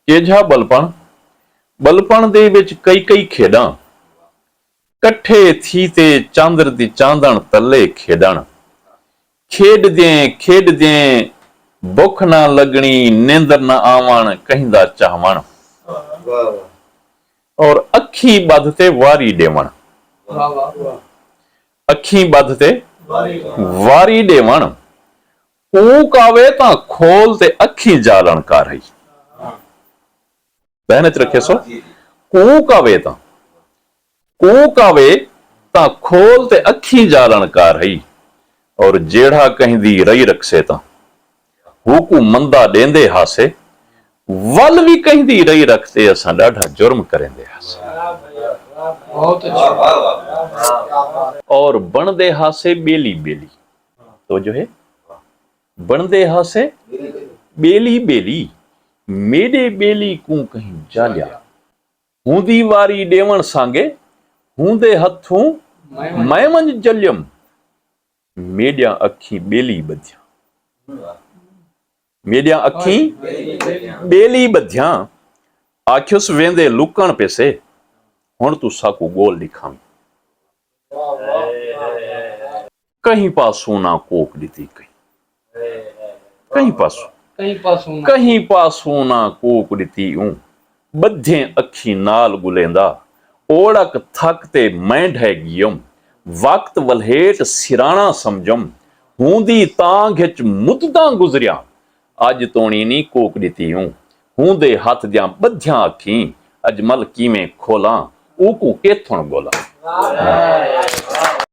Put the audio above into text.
کیجھا ٻلپݨ، ٻلپݨ دے وچ کئی کئی کھیݙاں، کٹھے تھی تے چاندر دی چاندݨ تلے کھیݙݨ، کھیݙدیں کھیݙدیں بکھ نہ لڳݨی نیندر نہ آوݨ کہیں دا چاہوݨ اور اکھیں ٻدھ تے واری ݙیوݨ، اکھیں ٻدھ تے واری ݙیوݨ اوں کاوے تاں کھول تے اکھیں جالݨ کر ہئی۔ ذہن اچ رکھیسو اوں کاوے تاں اوں کاوے تاں کھول تے اکھیں جالݨ کر ہئی اور جیڑھا کہیں دی رئی رکھسے تاں ہوکوں مندا ݙیندے ہاسے ول وی کہیں دی رئی رکھ تے اساں ݙاڈھا جرم کریندے ہاسے۔ اور بݨدے ہاسے ٻیلی ٻیلی۔ توجہ ہے بندے ہاسے بیلی بیلی میڈے بیلی کوں کہیں جالیا ہوں دی واری ڈیون سانگے ہوں دے ہتھوں میں ونج جلیم میڈیاں اکھی بیلی بدھیاں میڈیاں اکھیں بیلی بدھیاں آکھیس ویندے لکن پیسے ہن توں ساکوں گول ڈکھاویں کہیں پاسوں نہ کوک ڈتی کہیں کہیں پاسوں کہیں پاسوں نہ کوک ڈتی اوں ٻدھیں اکھیں نال ڳلیندا اوڑک تھک تے میں ڈھے ڳیم وقت ولھیٹ سراݨا سمجھم ہوندی تانگھ اچ مدتاں گزریاں اڄ توݨی نی کوک ݙتی اوں ہوندے ہتھ دیاں ٻدھیاں اکھیں اجمل کیویں کھولاں اوکوں کیتھݨ ڳولاں۔